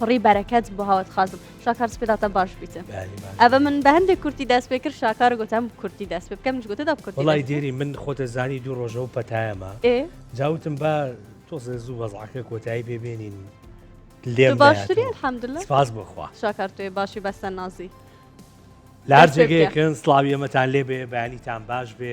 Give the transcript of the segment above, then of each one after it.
پڕی بەرەکەت بۆ هاوت خازم شاکار سپێداتە باش بیتە ئەە من بە هەندێک کورتی دەست پێ کرد شاکار گوتم کورتی دەست پێ بکەم گوتە دا کورت وڵی دێری من خۆتە زانی دوو ڕۆژەوە پەتایەمە جاوتم بە تۆزە زوو بەزعکە کۆتایی پێبێنین لێ باشتری حەمدلە سپاس بخوا شاکار توێ باشی بەسە نازی لار جێگەیەکن سلاویەمەتان لێ بێ بەیانیتان باش بێ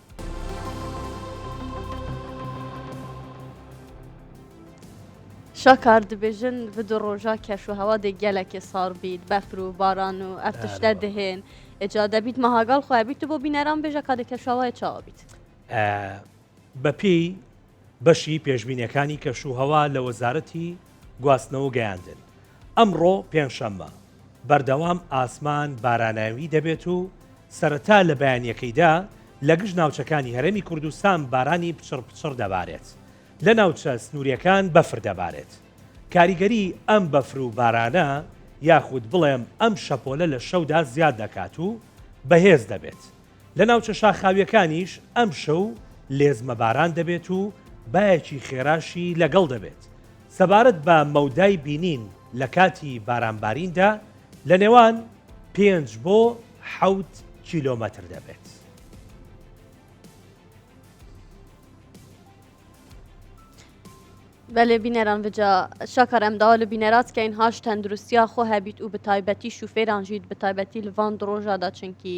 شاکار دبێژن بدو ڕۆژا کەش و هەوا دێک گەلەکێ ساڕ بیت بەفر و باران و ئەف تشتە دهێن ئجا دەبیت مەهاگاڵ خۆیان بیت و بۆ بینەران بێژە کاتێک کەشوهەوای چاوە بیت بەپێی بەشی پێشبینیەکانی کەشوهەوا لە وەزارەتی گواستنەوەو گەیاندن، ئەمڕۆ پێنجشەممە، بەردەوام ئاسمان باراناوی دەبێت و سەرەتا لە بەیانیەکەیدا لە گشت ناوچەکانی هەرێمی کوردستان بارانی پچڕ پچڕ دەبارێت، لە ناوچە سنوریەکان بەفر دەبارێت. کاریگەری ئەم بەفر و بارانە یاخود بڵێم ئەم شەپۆلە لە شەودا زیاد دەکات و بەهێز دەبێت. لە ناوچە شاخاوییەکانیش ئەمشەو لێزمە باران دەبێت و بایەکی خێراشی لەگەڵ دەبێت، سەبارەت بە مەودای بینین لە کاتی بارانباریندا لە نێوان پێنج بۆ حەوت کیلۆمەتر دەبێت. بەێ بینەران بجا شاکار ئەم داوا لە بینەراتکەین هاش تەندروستیا خۆ هەبیت و بەتایبەتی شوفێرانژیت بەتایبەتی لڤان درۆژادا چنکی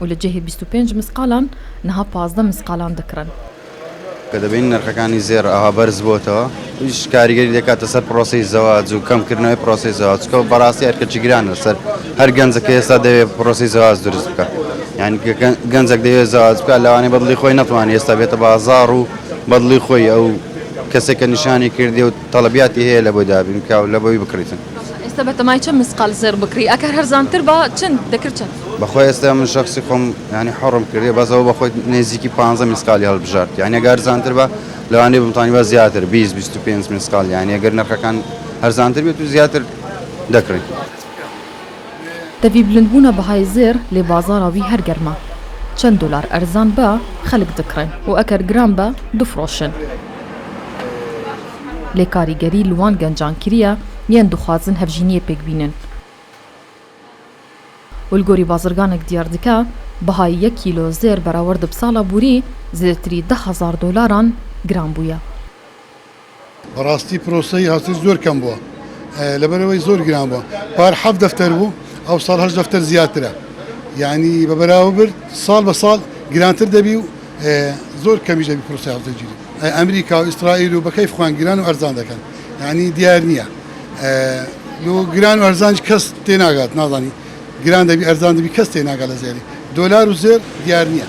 و لە جێهێ بیست و پێنج مسقالان نها پازدە مسقالان دەکڕن. کە دەبینین نرخەکانی زێڕ ئاوا بەرز بۆتەوە ئیش کاریگەری دەکاتە سەر پرۆسەی زەواج و کەم کردنەوەی پرۆسەی زەواج چکە بەڕاستی ئەرکەکی گرانە لەسەر هەر گەنجە کە ئێستا دەوێت پرۆسەی زەواج دروست بکە یعنی گەنجەک دەوێت زەواج بکە لەوانەیە بەدڵی خۆی نەتوانێت ئێستا بێتە بازاڕ و بەدڵی خۆی ئەو کەسێکە نیشانی کردێ و تەڵەبیاتی هەیە لە بۆی دابین بکا و لە بۆی بکڕیتن. باشە ئێستا بەتەمای چەند مسقال زێڕ بکڕی ئەکەر هەرزان تر با چەند دەکرد چەند؟ بەخوای ئێستا من شەخسی خۆم یانی حەڕم کردیە بەس ئەوە بەخۆی نێزیکی پانزە میسقالی هەڵبژارد یانی ئەگە هەرزانتر بە لەوانەیە بمتانی بە زیاتر بیست بیست و پێنج میسقال یانی ئەگەر نرخەکان هەرزانتر بێت و زیاتر دەکڕی. دەڤی بلند بونە بەهای زێڕ لێ بازاڕا وی هەر گەرمە چەند دۆلار ئەرزان بە خەلک دکڕێن و ئەکەر گران بە دفرۆشن لێ کاریگەری لوان گەنجان کریە یەن دخوازن هەڤژینیێ پێک بینن ول گۆری بازرگانک دیار دکە بەهای یەک کیلۆ زێر بەراوەرد بساڵا بوری زێرتری دە هەزار دۆلاران گران بویە. بەڕاستی پرۆسەی هاوسەری زۆر کەم بووە لەبەرەوەی زۆر گران بووە پار حەف دەفتەر بوو ئەو ساڵ هەش دەفتەر زیاترە یعنی بە بەراوە برد ساڵ بە ساڵ گرانتر دەبی و زۆر کەمیش دەبی پرۆسی هاوسەرگیری ئەمریکا و ئیسرائیل و بەکەی خوان گران و ئەرزان دەکەن یعنی دیار نییە لۆ گران و ئەرزانج کەس تێناگات نازانی گران دەبی ئەرزان دەبی کەس تێناگا لە زێری دۆلار و زێر دیار نییە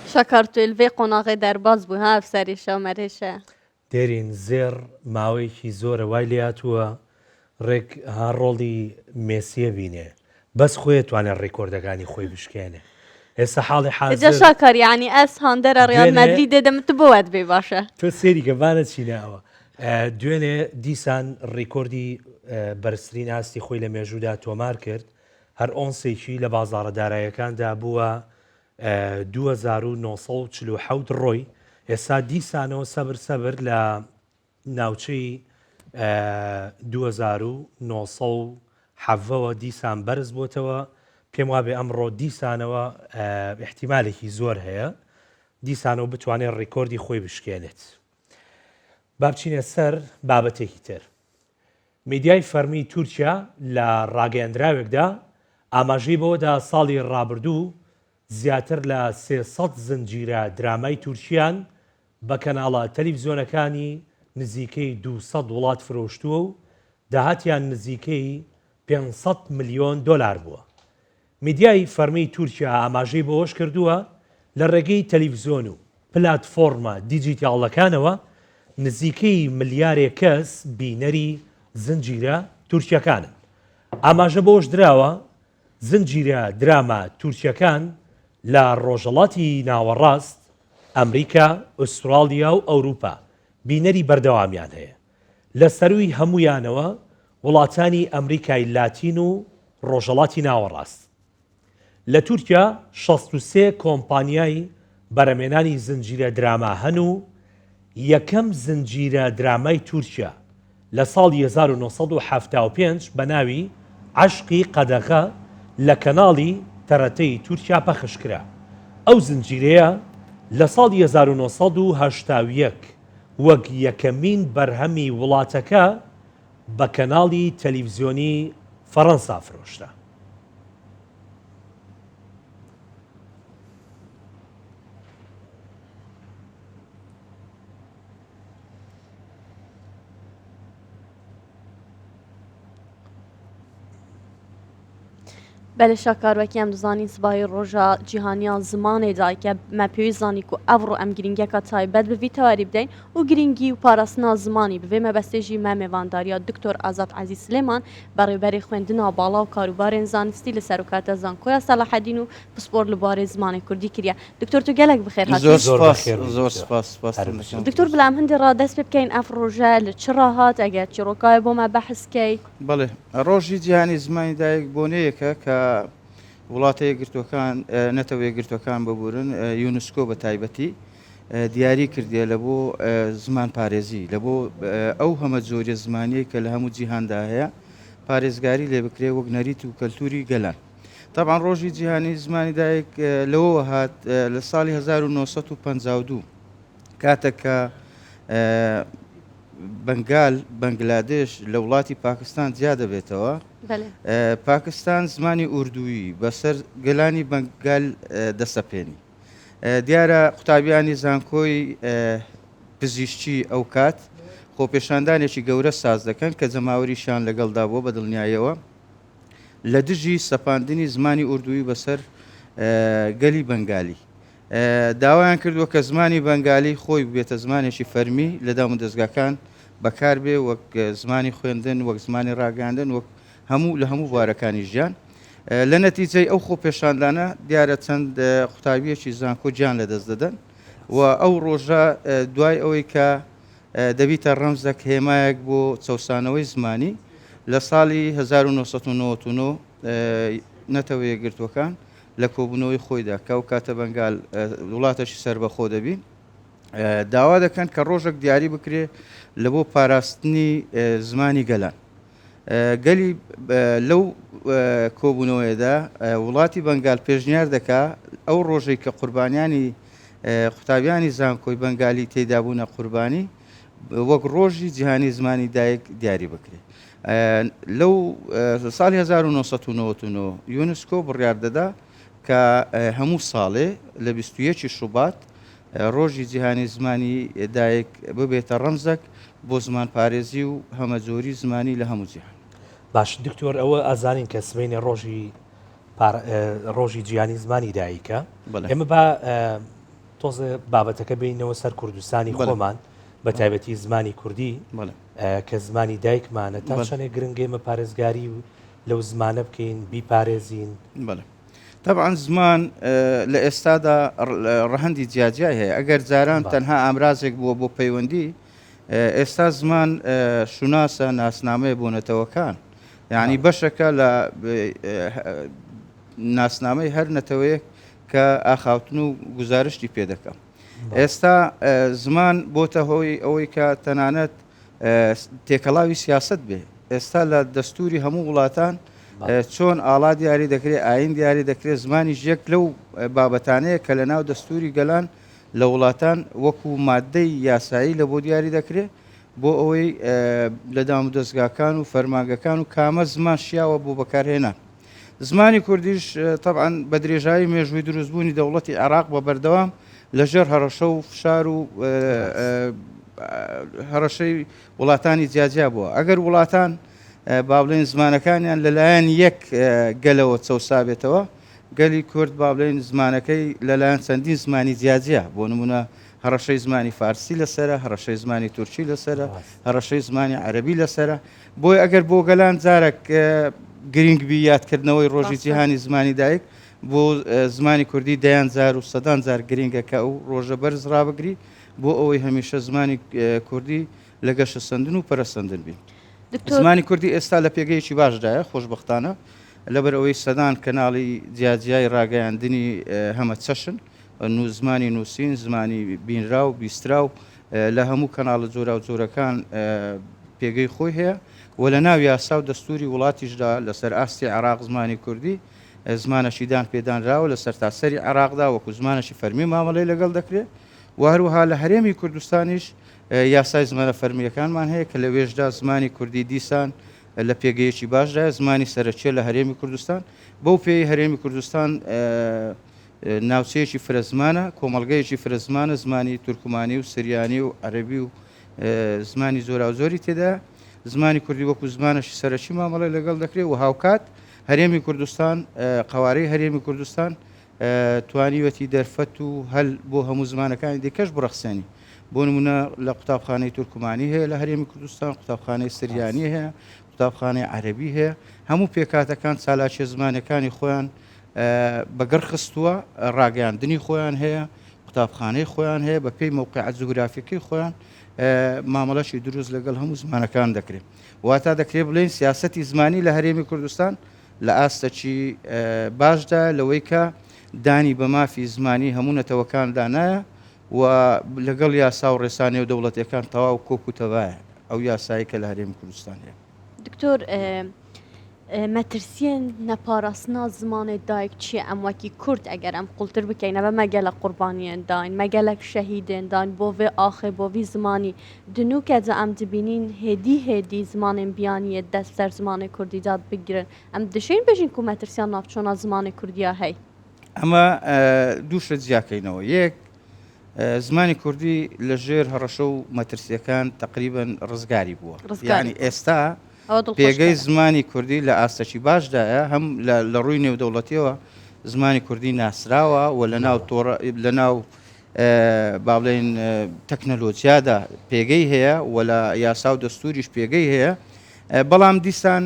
شاکار تویل ڤی قۆناغەی دەرباز بوو ها ئەفسەری شەو مەرێشە. دێرین زێڕ ماوەیەکی زۆرە وای لێهاتووە ڕێک ها ڕۆڵی مێسیە بینێ بەس خۆێ توانێ ڕیکۆردەکانی خۆی بشکێنێ ئێستا حاڵی حازر ئێجا شاکار یانی ئەس هاندەرە ڕیال دوێنێ- مەدرید دێدەم تو بۆ وات بێ باشە تۆ سێری کە با نەچینە ئەوە ئە، دوێنێ دیسان ڕیکۆردی ئە، بەرزترین ئاستی خۆی لە مێژوودا تۆمار کرد هەر ئۆنسێکی لە بازاڕە داراییەکاندا بووە دوو هەزار و نۆ سەد و چل و حەوت ڕۆی ئێستا دیسانەوە سەبر سەبر لە ناوچەی دوو هەزار و نۆ سەد و حەڤەوە دیسان بەرز بۆتەوە پێم وابێ ئەمڕۆ دیسانەوە احتیمالێکی زۆر هەیە دیسانەوە بتوانێت ڕیکۆردی خۆی بشکێنێت با بچینە سەر بابەتێکی تر میدیای فەرمیی تورکیا لە ڕاگەیەندراوێکدا ئاماژەی بەوەدا ساڵی ڕابردوو زیاتر لە سێ سەد زنجیرە درامای تورکییان بە کەناڵە تەلیڤزیۆنەکانی نزیکەی دوو سەد وڵات فرۆشتووە و داهاتیان نزیکەی پێنج سەد ملیۆن دۆلار بووە میدیای فەرمیی تورکیا ئاماژەی بەوەشکردووە، لە ڕێگەی تەلیفزیۆن و پلاتفۆڕمە دیجیتاڵەکانەوە نزیکەی ملیارێک کەس بینەری زنجیرە تورکییەکانن. ئاماژە بەوەشدراوە، زنجیرە دراما تورکییەکان لە ڕۆژهەڵاتی ناوەڕاست، ئەمریکا، ئوستراڵیا و ئەوروپا بینەری بەردەوامیان هەیە. لە سەرووی هەموویانەوە وڵاتانی ئەمریکای لاتین و ڕۆژهەڵاتی ناوەڕاست. لە تورکیا شەست و سێ کۆمپانیای بەرهەمێنانی زنجیرە دراما هەن و یەکەم زنجیرە درامای تورکیا لە ساڵی هەزار و نۆ سەد و حەفتا و پێنج بە ناوی عەشقی قەدەغە لە کەناڵی تەرەتەی تورکیا پەخش کرا. ئەو زنجیرەیە لە ساڵی هەزار و نۆ سەد و هەشتا و یەک. وەک یەکەمین بەرهەمی وڵاتەکە بە کەناڵی تەلیڤزیۆنی فەرەنسا فرۆشرا. بەێ شاکاروەکیان دزانین سبای ڕۆژە جیهانیان زمانێ دایکە مە پێوی زانانی و ئەوڕۆ ئەم گرنگەکە تایبەت بڤی تەواری بدەین و گرنگی و پاراستنا زمانی بێ مەبەستێژی مە مێوانداریا دکتۆر ئازاد عزی سلێمان بەڕێبەری خوێندنا باڵا و کاروبارێن زانستی لە سەرکاتە زانکۆیا سەلاحەدین و پسپۆر لەبارەی زمانی کوردی کرە دکتۆر تو گەلەک بخێر هاتوی. زۆر زۆر سوپاس بەخێر بێی زۆر دکتۆر. سوپاس سوپاستان هەر بژی. دەکەم. دکتۆر بلام هندی ڕا دەست پێ بکەین ئەف ڕوژە لە چ ڕا هات ئەگەر چیڕۆکاێ بۆما بەحس کەی. بەڵێ ڕۆژی جیهانی زمانی دایک بۆنەیەکە کە وڵاتە یەکگرتووەکان نەتەوە یەکگرتووەکان ببورن یونسکۆ بە تایبەتی دیاری کردیە لە بۆ زمان پارێزی لە بۆ ئەو هەمە جۆریە زمانیەی کە لە هەموو جیهاندا هەیە پارێزگاری لێ بکرێ وەک نەریت و کەلتوری گەلان. تەبعەن ڕۆژی جیهانی زمانی دایک لەوەوە هات لە ساڵی 1952 کاتە کە بەنگال بەنگلادێش لە وڵاتی پاکستان جیا دەبێتەوە پاکستان زمانی ئوردووی بەسەر گەلانی بەنگال دەسەپێنی دیارە قوتابیانی زانکۆی پزیشتی ئەو کات خۆپێشاندانێکی گەورە ساز دەکەن کە جەماوەریشان لەگەڵدا بووە بە دڵنیایەوە لە دژی سەپاندنی زمانی ئوردووی بەسەر گەلی بەنگالی داوایان کردووە کە زمانی بەنگالی خۆی بێتە زمانێکی فەرمی لە دام و دەستگاکان بەکاربێ وەک زمانی خوێندن وەک زمانی ڕاگەاندن وەک هەموو لە هەموو بوارەکانی ژیان لە نەتیجەی ئەو خۆ پێشاندانە دیارە چەند قوتابیەکی زانکۆ گیان لە دەست دەدەن و ئەو ڕۆژە دوای ئەوەی کە دەبیتە ڕەمزەک هێمایەک بۆ چەوسانەوەی زمانی، لە ساڵی هەزار و نۆ سەد و نەوەد و نۆ نەتەوە یەکگرتووەکان لە کۆبوونەوەی خۆیدا کە ئەو کاتە بەنگال وڵاتەشی سەربەخۆ دەبی داوا دەکەن کە ڕۆژەک دیاری بکرێ لە بۆ پاراستنی زمانی گەلان. گەلی لەو کۆبوونەوەیەدا وڵاتی بەنگال پێشنیار دەکا ئەو ڕۆژەی کە قوربانیانی قوتابیانی زانکۆی بەنگالی تێدابوونە قوربانی وەک ڕۆژی جیهانی زمانی دایک دیاری بکرێت لەو ساڵی 1990 یونسکۆ بڕیار دەدا کە هەموو ساڵێ لە 21 شوبات ڕۆژی جیهانی زمانی دایک ببێتە ڕەمزەک بۆ زمانپارێزی و هەمەجۆری زمانی لە هەموو جیهان. باش دکتۆر ئەوە ئازانین کە سبەینێ ڕۆژی ڕۆژی جیانی زمانی دایکە ئێمە با تۆزێ بابەتەکە بینەوە سەر کوردستانی خۆمان بە تایبەتی زمانی کوردی کە زمانی دایکمانە تا چەنێ گرنگێمە پارێزگاری و لەو زمانە بکەین بیپارێزین تەبعەن زمان لە ئێستادا ڕەهەندی جیاجیای هەیە ئەگەر جاران تەنها ئامرازێک بووە بۆ پەیوەندی ئێستا زمان شوناسە ناسنامەیە بۆ نەتەوەکان یعنی بەشەکە لە ناسنامەی هەر نەتەوەیەک کە ئاخاوتن و گزارشتی پێ دەکەم ئێستا زمان بۆتە هۆی ئەوەی کە تەنانەت تێکەڵاوی سیاسەت بێ ئێستا لە دەستوری هەموو وڵاتان چۆن ئاڵا دیاری دەکرێت ئاین دیاری دەکرێت زمانی ژێک لەو بابەتانەیە کە لە ناو دەستوری گەلان لە وڵاتان وەکو مادەی یاسایی لە بۆ دیاری دەکرێت بۆ ئەوەی لە دام و دەستگاکان و فەرماگەکان و کامە زمان شیاوە بۆ بەکارهێنان زمانی کوردیش تەبعەن بە درێژایی مێژووی دروستبوونی دەوڵەتی عێراق بە بەردەوام لەژێر هەڕەشە و فشار و هەڕەشەی وڵاتانی جیاجیا بووە ئەگەر وڵاتان با بڵێن زمانەکانیان لەلایەن یەک گەلەوە چەسابێتەوە گەلی کورد با بڵێن زمانەکەی لەلایەن چەندین زمانی جیاجیا بۆ نمونە هەڕەشەی زمانی فارسی لەسرە هەڕەشەی زمانی تورکی لەسرە هەڕەشەی زمانی عەربی لەسرە بۆیە ئەگەر بۆ گەلان جارەک گرینگ بی یادکردنەوەی ڕۆژی جیهانی زمانی دایک بۆ زمانی کوردی دەیان جار و سەدان جار گرینگە کە ئەو ڕۆژە بەرز ڕابگری بۆ ئەوەی هەمیشە زمانی کوردی لە گەشە سندن و پەرەسەندن بی زمانی کوردی ئێستا لە پێگەیەکی باشدایە خۆشببختانە لەبەر ئەوەی سەدان کەناڵی جیاجیای ڕاگەیاندنی هەمە چەشن زمانی نووسین، زمانی بینراو، بیستراو، لە هەموو کەناڵە جۆراوجۆرەکان پێگەی خۆی هەیە و لە ناو یاسا و دەستووری وڵاتیشدا لەسەر ئاستی عێراق زمانی کوردی زمانەشی دان پێدانراوە لە سەرتاسەری عێراقدا وەکو زمانەشی فەرمی مامەڵەی لەگەڵ دەکرێت و هەروەها لە هەرێمی کوردستانیش یاسای زمانە فەرمیەکانمان هەیە کە لەوێشدا زمانی کوردی دیسان لە پێگەیەکی باشدا زمانی سەرەکیە لە هەرێمی کوردستان بەو پێی هەرێمی کوردستان ناوچەیەکی فرە زمانە، کۆمەڵگەیەکی فرە زمانە، زمانی تورکمانی و سریانی و عەرەبی و زمانی جۆراوجۆری تێدایە. زمانی کوردی وەکوو زمانێکی سەرەکی مامەڵەی لەگەڵ دەکرێ و هاوکات هەرێمی کوردستان، قەوارەی هەرێمی کوردستان توانیوێتی دەرفەت و هەل بۆ هەموو زمانەکانی دیکەش بڕەخسێنی. بۆ نموونە لە قوتابخانەی تورکمانی هەیە لە هەرێمی کوردستان، قوتابخانەی سریانی هەیە، قوتابخانەی عەرەبی هەیە. هەموو پێکهاتەکان چالاکییە زمانییەکانی خۆیان بە گڕ خستووە، ڕاگەیاندنی خۆیان هەیە، قوتابخانەی خۆیان هەیە، بە پێی مەوقعە جوگرافیەکەی خۆیان مامەڵەشی دروست لەگەڵ هەموو زمانەکان دەکرێت. واتا دەکرێت بڵێن سیاسەتی زمانی لە هەرێمی کوردستان لە ئاستەکی باشدا لەوەی کە دانی بە مافی زمانی هەموو نەتەوەکاندا نایە و لەگەڵ یاسا و ڕێسا نێودەوڵەتیەکان تەواو کۆک و تەبایە ئەو یاسایی کە لە هەرێمی کوردستان هەیە. دکتۆر مەترسیێن نەپاراستنا زمانێ دایک چیە ئەم وەکی کورد ئەگەر ئەم قوڵتر بکەین نەبە مەگەلە قوربانیان داین مەگەلەک شەهیدێن داین بۆێ ئاخێ بۆوی زمانی دنوکە جا ئەم دبینین هێدی هێدی زمانێن بیانیە دەست سەر زمانێ کوردی داد بگرن ئەم دشین بژین کو مەترسیان ناوچۆنا زمانێ کوردیا هەی. ئەمە دوو شت جیاکەینەوە یەک زمانی کوردی لە ژێر هەڕەشە و مەترسیەکان تقریبن ڕزگاری بووە ڕزگانی ئێستا پێگەی زمانی کوردی لە ئاستەکی باشدایە هەم لە ڕووی نێودەوڵەتیەوە زمانی کوردی ناسراوە و لە ناو تۆڕە لە ناو با بڵێن تەکنەلۆجیادا پێگەی هەیە و لە یاسا و دەستوریش پێگەی هەیە بەڵام دیسان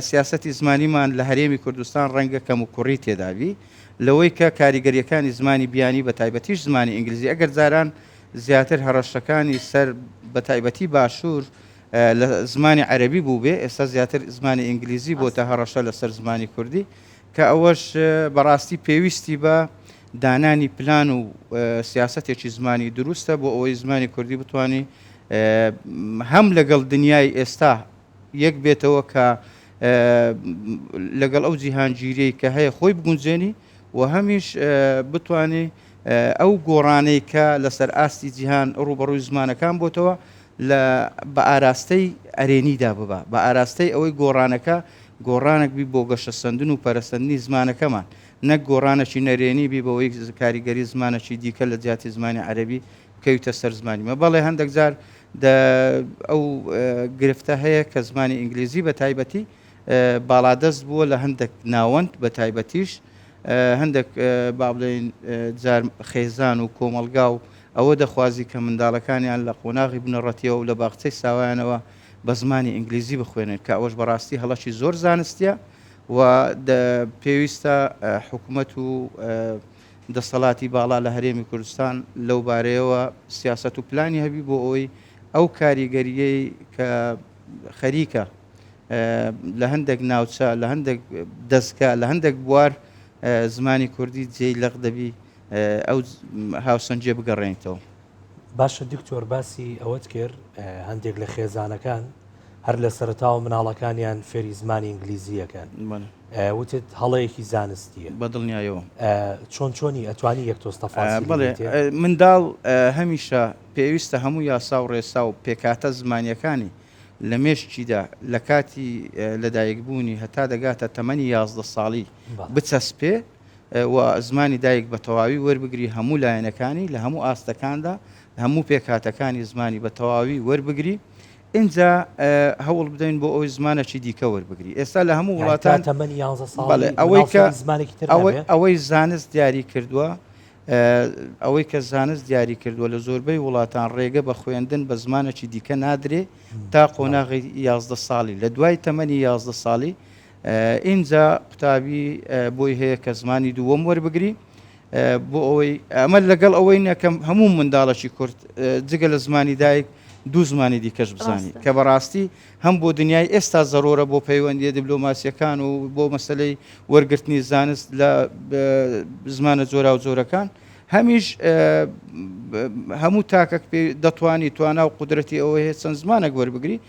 سیاستی زمانیمان لە هەرێمی کوردستان ڕەنگە کەم و کوڕی تێداوی لەوەی کە کاریگەرییەکانی زمانی بیانی بە تایبەتیش زمانی ئینگلیزی ئەگەر جاران زیاتر هەڕەشەکانی سەر بە تایبەتی باشوور لە زمانی عەرەبی بووبێ ئێستا زیاتر زمانی ئینگلیزی بۆتە هەڕەشە لە سەر زمانی کوردی کە ئەوەش بە ڕاستی پێویستی بە دانانی پلان و سیاسەتێکی زمانی دروستە بۆ ئەوەی زمانی کوردی بتوانی هەم لەگەڵ دنیای ئێستا یەک بێتەوە کە لەگەڵ ئەو جیهانگیریەی کە هەیە خۆی بگونجێنی و هەمیش بتانی ئەو گۆڕانەی کە لەسەر ئاستی جیهان ڕوبەڕووی زمانەکان بۆتەوە لە بە ئاراستەی ئەرێنیدا ببە بە ئاراستەی ئەوەی گۆڕانەکە گۆڕانێک بی بۆ گەشە سندن و پەرەسەندنی زمانەکەمان نەک گۆڕانەکی نەرێنی بی بەوەی کاریگەری زمانەکی دیکە لە جیاتی زمانی عەربی کەویتە سەر زمانیمە بەڵێ هەندێک جار دە ئەو گرفتە هەیە کە زمانی ئینگلیزی بە تایبەتی باڵادەست بووە لە هەندێک ناوەند بە تایبەتیش هەندێک با بڵێین جار خێزان و کۆمەڵگا و ئەوە دەخوازی کە منداڵەکانیان لە قۆناغی بنەڕەتیەوە و لە باغچەی ساوایانەوە بە زمانی ئینگلیزی بخوێنێت کە ئەوەش بەڕاستی هەڵەکی زۆر زانستیە و پێویستە حکومەت و دەسەڵاتی باڵا لە هەرێمی کوردستان لەو بارەیەوە سیاسەت و پلانی هەبی بۆ ئەوەی ئەو کاریگەرییەی کە خەریکە لە هەندێک ناوچە لە هەندێک دەستگا لە هەندێک بوار زمانی کوردی جێی لەق دەبی ئەو هاوسەنجێ بگەڕێنیتەوە. باشە دکتۆر باسی ئەوەت کرد هەندێک لە خێزانەکان هەر لە سەرتاوە مناڵەکانیان فێری زمانی ئینگلیزیەکەن وتت هەڵەیەکی زانستیە بەدڵنیایەوە چۆن چۆنی ئەتوانی یەک تۆستەفا منداڵ هەمیشە پێویستە هەموو یاسا و ڕێسا و پێکاتە زمانیەکانی لە مێشکیدا لە کاتی لەدایکبوونی هەتا دەگاتە تەمەنی یازدە ساڵی بچەسپێ و زمانی دایک بە تەواوی وەربگری هەموو لایەنەکانی لە هەموو ئاستەکاندا لە هەموو پێکهاتەکانی زمانی بە تەواوی وەربگری ئینجا هەوڵ بدەین بۆ ئەوی زمانەکی دیکە وەربگری ئێستا لە هەموو وڵاتان تەمەنی ئەوەی کە ئەوەی زانست دیاری کردووە ئەوەی کە زانست دیاری کردووە لە زۆربەی وڵاتان ڕێگە بە خوێندن بە زمانەکی دیکە نادرێ تا قۆناغی یازدە ساڵی لە دوای تەمەنی یازدە ساڵی ئینجا قوتابی بۆی هەیە کە زمانی دووەم وەربگری بۆ ئەوەی ئەمە لەگەڵ ئەوەی نەکە هەموو منداڵەکی کورد جگە لە زمانی دایک دوو زمانی دیکەش بزانی کە بەڕاستی هەم بۆ دنیای ئێستا زەرۆرە بۆ پەیوەندیە دیبلۆماسیەکان و بۆ مەسلەی وەرگرتنی زانست لە زمانە جۆرا و جۆرەکان هەمیش هەموو تاکەک پێ دەتوانی توانا و قدرەتی ئەوەیە چەند زمانێک وەربگری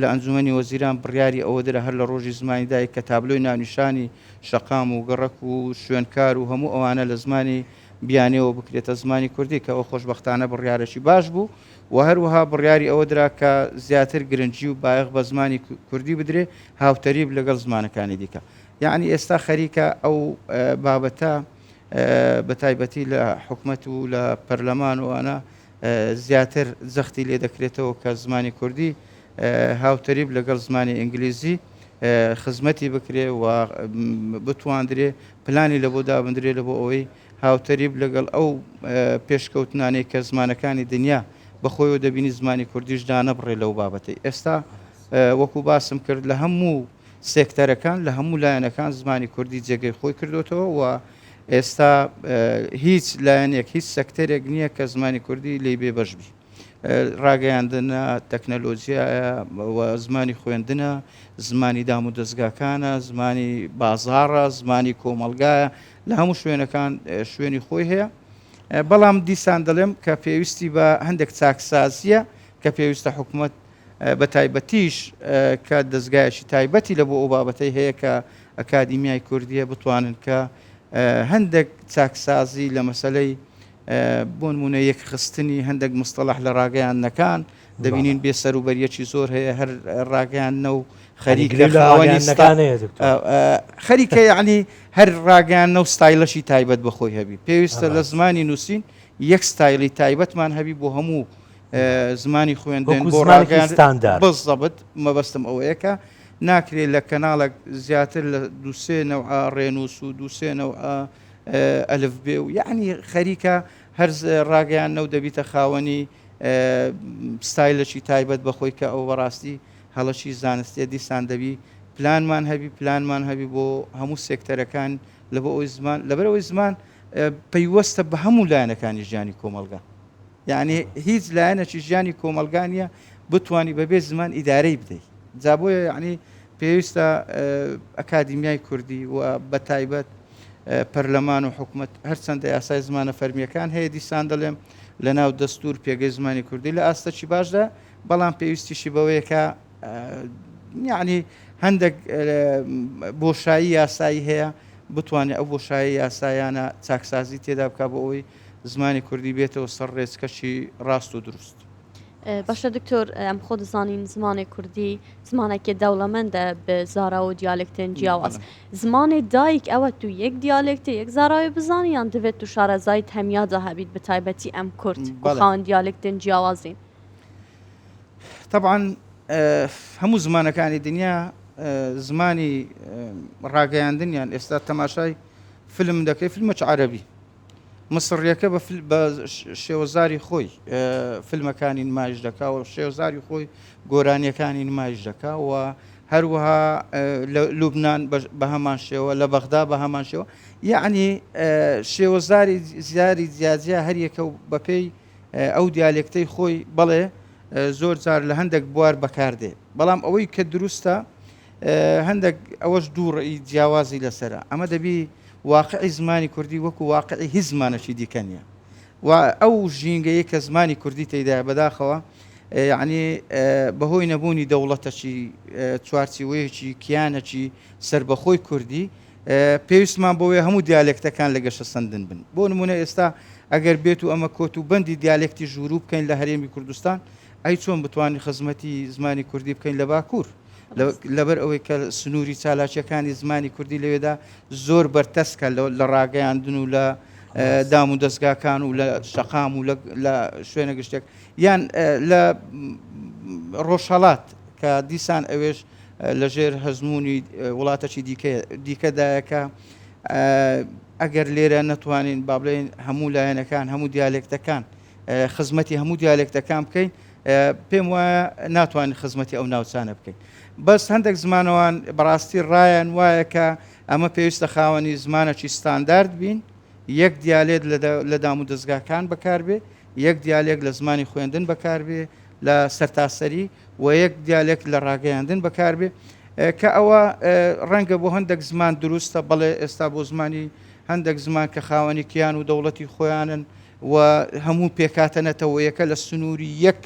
لە ئەنجوومەنی وەزیران بڕیاری ئەوە درا هەر لە ڕۆژی زمانی دایک کە تابلۆی ناونیشانی شەقام و گەڕەک و شوێنکار و هەموو ئەوانە لە زمانی بیانییەوە بکرێتە زمانی کوردی کە ئەوە خۆشبەختانە بڕیارێکی باش بوو و هەروەها بڕیاری ئەوە درا کە زیاتر گرنگی و بایەخ بە زمانی کوردی بدرێ هاوتەریب لەگەڵ زمانەکانی دیکە یەعنی ئێستا خەریکە ئەو بابەتە بە تایبەتی لە حکومەت و لە پەرلەمان و ئەنا زیاتر جەختی لێ دەکرێتەوە کە زمانی کوردی هاوتەریب لەگەڵ زمانی ئینگلیزی خزمەتی بکرێ و بتواندرێ پلانی لە بۆ دابدرێ لە بۆ ئەوەی هاوتەریب لەگەڵ ئەو پێشکەوتنانەی کە زمانەکانی دنیا بەخۆیەوە دەبینی زمانی کوردیش دانەبڕێ لەو بابەتەی ئێستا وەکو باسم کرد لە هەموو سێکتەرەکان لە هەموو لایەنەکان زمانی کوردی جێگەی خۆی کردوێتەوە و ئێستا هیچ لایەنێک هیچ سەکتەرێک نییە کە زمانی کوردی لی بێ بەش بی ڕاگەیاندنە تەکنەلۆژیایە زمانی خوێندنە زمانی دام و دەستگاکانە زمانی بازاڕە زمانی کۆمەلگایە لە هەموو شوێنەکان شوێنی خۆی هەیە بەڵام دیسان دەڵێم کە پێویستی بە هەندێک چاکسازیە کە پێویستە حکوومەت بە تایبەتیش کە دەزگایەکی تایبەتی لە بۆ ئەو بابەتەی هەیە کە ئەکادیمیای کوردیە بتوانن کە هەندێک چاکسازی لە مەسەلەی بۆنمونە یەکخستنی هەندێک مستەلاح لە ڕاگەیاندنەکان دەبینین بێ سەروبەریەکی زۆر هەیە هەر ڕاگەیاندنە و خەریکە یعنی هەر ڕاگەیانە و ستایلەشی تایبەت بەخۆی هەبی پێویستە لە زمانی نووسین یەک ستایلی تایبەتمان هەبی بۆ هەموو زمانی خوێندن بۆ ڕاگەیاندن وەکو زمانێکی ستاندارد. بالضبط مەبەستم ئەوەیە کە ناکرێ لە کەناڵێک زیاتر لە دوو سێ نەوعە ڕێنووس و دوو سێ نەوعە ئەلفبێ و یەعنی خەریکە هەر ڕاگەیاندنە و دەبیتە خاوەنی ستایلێکی تایبەت بە خۆی کە ئەوە بەڕاستی هەڵەکی زانستییە دیسان دەبی پلانمان هەبی پلانمان هەبی بۆ هەموو سێکتەرەکان لەبەر ئەوەی زمان لەبەر ئەوەی زمان پەیوەستە بە هەموو لایەنەکانی ژیانی کۆمەڵگا. یانی هیچ لایەنەکی ژیانی کۆمەڵگا نیە بتوانی بەبێ زمان ئیدارەی بدەی جا بۆیە یعنی پێویستە ئەکادیمیای کوردی و بە تایبەت پەرلەمان و حکومت هەرچەندە یاسای زمانە فەرمیەکان هەیە دیسان دەڵێم لە ناو دەستور پێگەی زمانی کوردی لە ئاستەکی باشدا بەڵام پێویستیشی بەوەیەکە یعنی هەندێک بۆشایی یاسایی هەیە بتوانێت ئەو بۆشایی یاسایانە چاکسازی تێدا بک بۆ ئەوی زمانی کوردی بێتەوە سەر ڕێچکەکی ڕاست و دروست. باشە دکتۆر ئەم خۆ دەزانین زمانێ کوردی زمانێکێ دەوڵەمەندە بە زاراو و دیالێکتێن جیاواز زمانێ دایک ئەوە تو یەک دیالێکتێ یەک زاراوێ بزانی یان دەبێت تو شارەزایت هەمیا جا هەبیت بە تایبەتی ئەم کورد کو خاوەن دیالێکتێن جیاوازین تەبعەن هەموو زمانەکانی دنیا زمانی ڕاگەیاندنیان ئێستا تەماشای فلم دەکەی فلمەچ عەرەبی مصڕیەکە بە بە شێوەزاری خۆی فیلمەکانی نمایش دەکا و شێوەزاری خۆی گۆرانیەکانی نمایش دەکا و هەروەها لە لوبناان بە هەمان شێوە لە بەغدا بە هەمان شێوە یعنی شێوەزاری زیاری جیاجیا هەریەکە و بەپێی ئەو دیالێکتەی خۆی بەڵێ زۆر جار لە هەندێک بوار بەکاردێ بەڵام ئەوەی کە دروستە هەندەک ئەوەش دوو ڕێی جیاوازی لەسەرە، ئەمە دەبی واقعی زمانی کوردی وەکو واقعی هیچ زمانەکی دیکە نیە و ئەو ژینگەیەی کە زمانی کوردی تێدایە بەداخەوە یەعنی بەهۆی نەبوونی دەوڵەتەکی چوارچیوەیەکی کیانەکی سربەخۆی کوردی پێویستمان بۆیە هەموو دیالێکتەکان لە گەشە سندن بن بۆ نمونە ئێستا ئەگەر بێت و ئەمە کۆت و بەندی دیالێکتی ژوورو بکەین لە هەرێمی کوردستان ئەی چۆن بتوانین خزمەتی زمانی کوردی بکەین لە باکوور لەبەر ئەوەی کە سنووری چالاکیەکانی زمانی کوردی لەوێدا زۆر بەرتەسکە لە ڕاگەیاندن و لە دام و دەستگاکان و لە شەقام و لە شوێنە گشتێک یان لە ڕۆژهڵات کە دیسان ئەوێش لەژێر هەزمونی وڵاتەکی دیکەدایەکە ئەگەر لێرە نەتوانین بابلین هەموو لایەنەکان هەموو دیالێکتەکان خزمەتی هەموو دیالێکتەکان بکەین پێم وایە ناتوانین خزمەتی ئەو ناوچانە بکەین بەس هەندێک زمانەوان بەڕاستی ڕایەن وایە کە ئەمە پێویستە خاوەنی زمانەکی ستاندارد بین یەک دیالێت لە دام و دەستگاکان بەکاربێ یەک دیالێک لە زمانی خوێندن بەکاربێ لە سەرتاسەری و یەک دیالێک لە ڕاگەیاندن بەکاربێ کە ئەوە ڕەنگە بۆ هەندێک زمان دروستە بەڵێ ئێستا بۆ زمانی هەندێک زمان کە خاوەنی کیان و دەوڵەتی خۆیانن و هەموو پێکهاتە نەتەوەیەکە لە سنووری یەک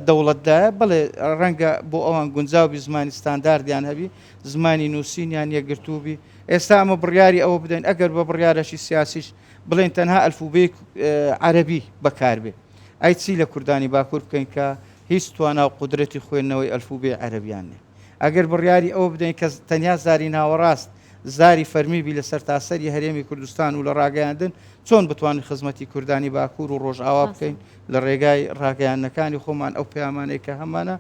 دەوڵەتدایە، بەڵێ ڕەنگە بۆ ئەوان گونجاو بی زمانی ستانداردیان هەبی، زمانی نووسینیان یەکگرتوو بی، ئێستا ئەمە بڕیاری ئەوە بدەین ئەگەر بە بڕیارەکی سیاسیش بڵێین تەنها ئەلفوبێی عەرەبی بەکاربێ، ئەی چی لە کوردانی باکوور بکەین کە هیچ توانا و قودرەتی خوێندنەوەی ئەلفوبێی عەرەبیان نیە؟ ئەگەر بڕیاری ئەوە بدەین کە تەنیا زاری ناوەڕاست زاری فەرمی بی لە سەرتاسەری هەرێمی کوردستان و لە ڕاگەیاندن چۆن بتوانین خزمەتی کوردانی باکوور و ڕۆژئاوا بکەین لە ڕێگای ڕاگەیاندنەکانی خۆمان ئەو پەیامانەی کە هەمانە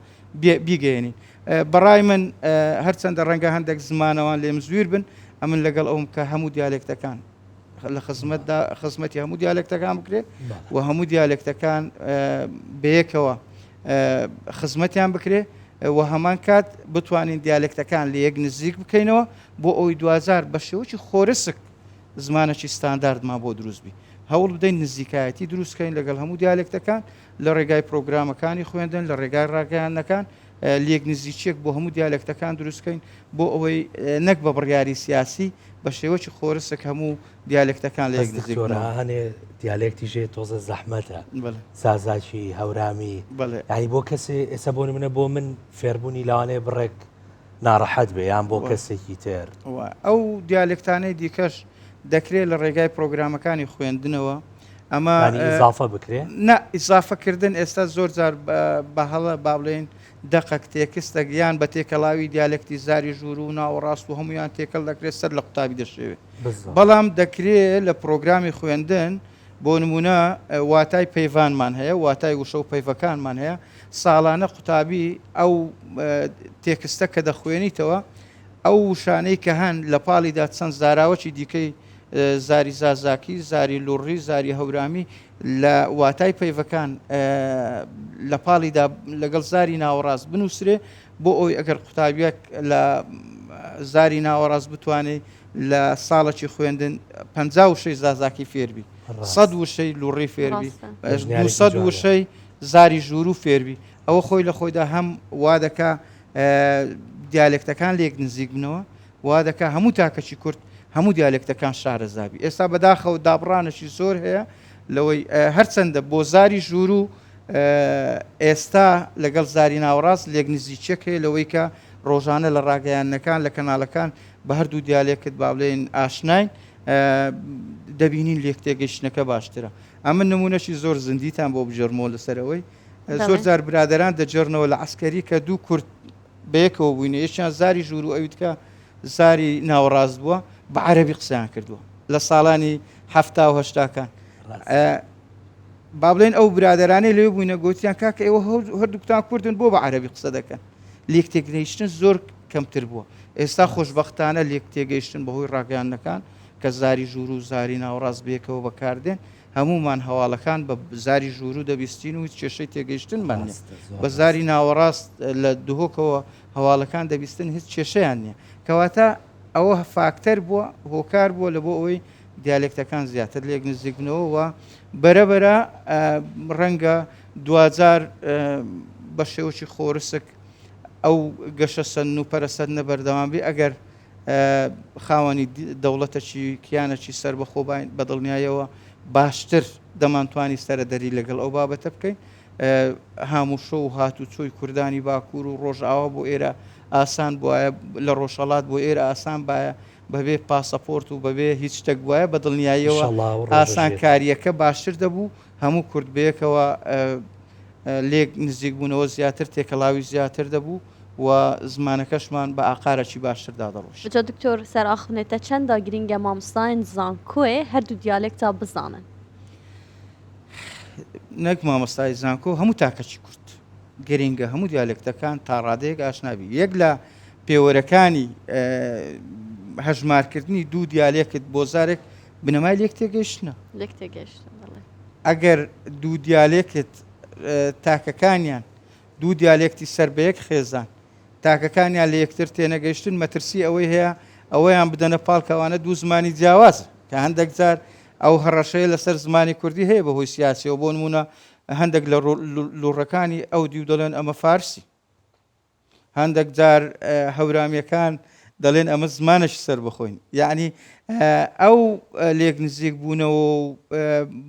بیگەێنین بەڕای من هەرچەندە ڕەنگە هەندێک زمانەوان لێم زویر بن ئەمن لەگەڵ ئەوم کە هەموو دیالێکتەکان لە خزمەتدا خزمەتی هەموو دیالکتەکان بکرێت و هەموو دیالکتەکان بەیەکەوە خزمەتیان بکرێ و هەمان کات بتوانین دیالکتەکان لە یەک نزیک بکەینەوە بۆ ئەوی دوزار بە شێوەی خۆرسک زمانەی ستانداردمان بۆ دروستبی هەوڵ بدەین نزیکایەتی دروستکەین لەگەڵ هەموو دیالکتەکان لە ڕێگای پرۆگرامەکانی خوێندن لە ڕێگای ڕاگەیانەکان لێک نزیکیەک بۆ هەموو دیالێکتەکان دروستکەین بۆ ئەوەی نەک بە بڕیاری سیاسی بە شێوەی خۆرسک هەموو دیالێکتەکان لە هەنێ دیالێکتی ژێ تۆزە زەحمەتە سازاکی هەورامی ینی بۆ کەسێ ئێستا بۆ منە بۆ من فێربوونی لاوانەیە بڕێک ناڕەحەت بێ یان بۆ کەسێکی تر ئەو دیالێکتانەی دیکەش دەکرێت لە ڕێگای پرۆگرامەکانی خوێندنەوە ئەمە ئیزافە بکرێ نە ئیزافەکردن ئێستا زۆر جار بە هەڵە با بڵێن دەقەک تێکستە گیان بە تێکەڵاوی دیالکتی زاری ژوور و ناوەڕاست و هەمویان تێکەڵ دەکرێت سەر لە قوتابی دەشێوێت بەڵام دەکرێت لە پرۆگرامی خوێندن بۆ نمونە واتای پەیوانمان هەیە واتای وشە و پەیڤەکانمان هەیە ساڵانە قوتابی ئەو تێکستە کە دەخوێنیتەوە ئەو وشانەی کە هەن لە پاڵیدا چەند زاراوەی دیکەی زاری زازاکی، زاری لوڕی، زاری هەورامی لە واتای پەیڤەکان لە پاڵیدا لەگەڵ زاری ناوەڕاست بنووسرێ بۆ ئەوی ئەگەر قوتابیەک لە زاری ناوەڕاست بتوانێت لە ساڵەکی خوێندن پ وشەی زازاکی فێربی سەد وشەی لوڕی فێربی سەد وشەی زاری ژوور و فێربی ئەوە خۆی لە خۆیدا هەم وا دەکا دیالێکتەکان لێک نزیک بنەوە وا دەکات هەموو تاکەکی کورد هەموو دیالێکتەکان شارەزا بی. ئێستا بەداخەوە دابڕانێکی زۆر هەیە لەوەی هەرچەندە بۆ زاری ژوور و ئێستا لەگەڵ زاری ناوەڕاست لێک نزیکیەک هەیە لەوەی کە ڕۆژانە لە ڕاگەیاندنەکان لە کەناڵەکان بە هەردوو دیالێکت با بڵێن ئاشناین دەبینین لێک تێگەیشتنەکە باشترە ئەمە نمونەشی زۆر زیندیتان بۆ بژێرمەوە لەسەرەوەی زۆر جار برادران دەجێڕنەوە لە عسکەری کە دوو کورد بەیەکەوە بووینە یەکیان زاری ژوورو ئەوی تکە زاری ناوەڕاست بووە بە عەربی قسەیان کردووە لە ساڵانی هەفتا و هەشتاکان بابلێن ئەو برادرانەی لێ بووینە گوتیان کاکە ئێوە هەردووکتان کوردن بۆ بە عەربی قسە دەکەن لێک تێکنیشتن زۆر کەمتر بووە ئێستا خۆشببختانە لێک تێگەیشتن بەهۆی ڕاگەیانەکان کە زاری ژوور و زاری ناوەڕاست بێکەوە بەکاردێن هەموومان هەواڵەکان بە زاری ژوورو دەبیستین و هیچ کێشەی تێگەیشتنمان نیە. بە زاری ناوەڕاست لە دهۆکەوە هەواڵەکان دەبیستن هیچ کێشەیان نیە. کەواتە ئەوە فاکتەر بووە، هۆکار بووە لە بۆ ئەوەی دیالێکتەکان زیاتر لێک نزیک بنەوە و بەرە بەرە ڕەنگە دواجار بە شێوەکی خۆرسک ئەو گەشە سەندن و پەرە سەندنە بەردەوام بی ئەگەر خاوەنی دەوڵەتەکی کیانەکی سەربەخۆ باین بە دڵنیایەوە باشتر دەمانتوانی سەرەدەری لەگەڵ ئەو بابەتە بکەین هاموشۆ و هاتو چۆی کوردانی باکوور و ڕۆژاوا بۆ ئێرە ئاسان بواە لە ڕۆژهڵات بۆ ئێرە ئاسان باە بەبێ پاسەپۆرت و بەبێ هیچ شتێک وایە بە دڵنیاییەوە ئاسان کاریەکە باشتر دەبوو هەموو کورد بەیەکەوە لێک نزیک بوونەوە زیاتر تێکەڵاوی زیاتر دەبوو و زمانەکەشمان بە ئاقارەکی باشتر دادەڕۆیشت. جا دکتۆر سەر ئاخونێ تە چەندا گرینگە مامۆستایان زانکۆێ هەردوو دیالێکتا بزانن؟ نەک مامۆستای زانکۆ هەموو تاکەکی کورد گرینگە هەموو دیالێکتەکان تا ڕادەیەک ئاشنابی یەک لە پێوەرەکانی هەژمارکردنی دوو دیالێکت بۆ زارێک بنەمای لێک تێگەیشتنە. لێک تێگەیشتن بەڵێ. ئەگەر دوو دیالێکت تاکەکانیان دوو دیالێکتی سەر بە یەک خێزان تاکەکانیان لە یەکتر تێنەگەیشتن مەترسی ئەوەی هەیە ئەوەیان بدەنە پاڵ کەوانە دوو زمانی جیاواز کە هەندێک جار ئەو هەڕەشەیە لەسەر زمانی کوردی هەیە بەهۆی سیاسیەوە بۆ نمونە هەندێک لە لوڕەکانی ئەو دیو دەڵێن ئەمە فارسی هەندەک جار هەورامیەکان دەڵێن ئەمە زمانەش سەر بخۆین یعنی ئەو لێک نزیک بوونەوە و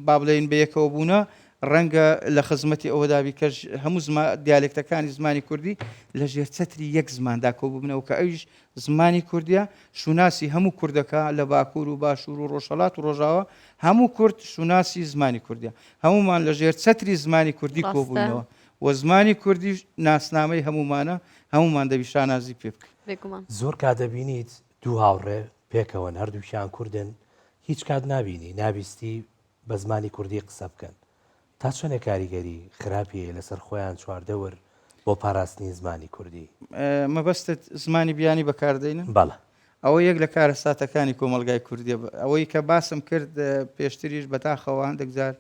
با بڵێن بەیەکەوە بوونە ڕەنگە لە خزمەتی ئەوەدابی کەش هەموو زما دیالێکتەکانی زمانی کوردی لە ژێر چەتری یەک زماندا کۆ ببنەوە کە ئەویش زمانی کوردیا شوناسی هەموو کوردەکە لە باکوور و باشوور و ڕۆژهڵات و ڕۆژاوە هەموو کورد شوناسی زمانی کوردیا هەمومان لە ژێر چەتری زمانی کوردی کۆبوونەوە و زمانی کوردیش ناسنامەی هەموومانە، هەموومان دەبی شانازی پێ بکەین. بێگومان. زۆر کات دەبینیت دوو هاوڕێ پێکەوەن هەردووکیان کوردن هیچ کات نابینی نابیستی بە زمانی کوردی قسە بکەن تا چەنێ کاریگەری خراپی هەیە لەسەر خۆیان چواردەور بۆ پاراستنی زمانی کوردی؟ مەبەستت زمانی بیانی بەکاردەینن؟ بەڵێ. ئەوە یەک لە کارەساتەکانی کۆمەڵگای کوردیە ئەوەی کە باسم کرد پێشتریش بەداخەوە هەندێک جار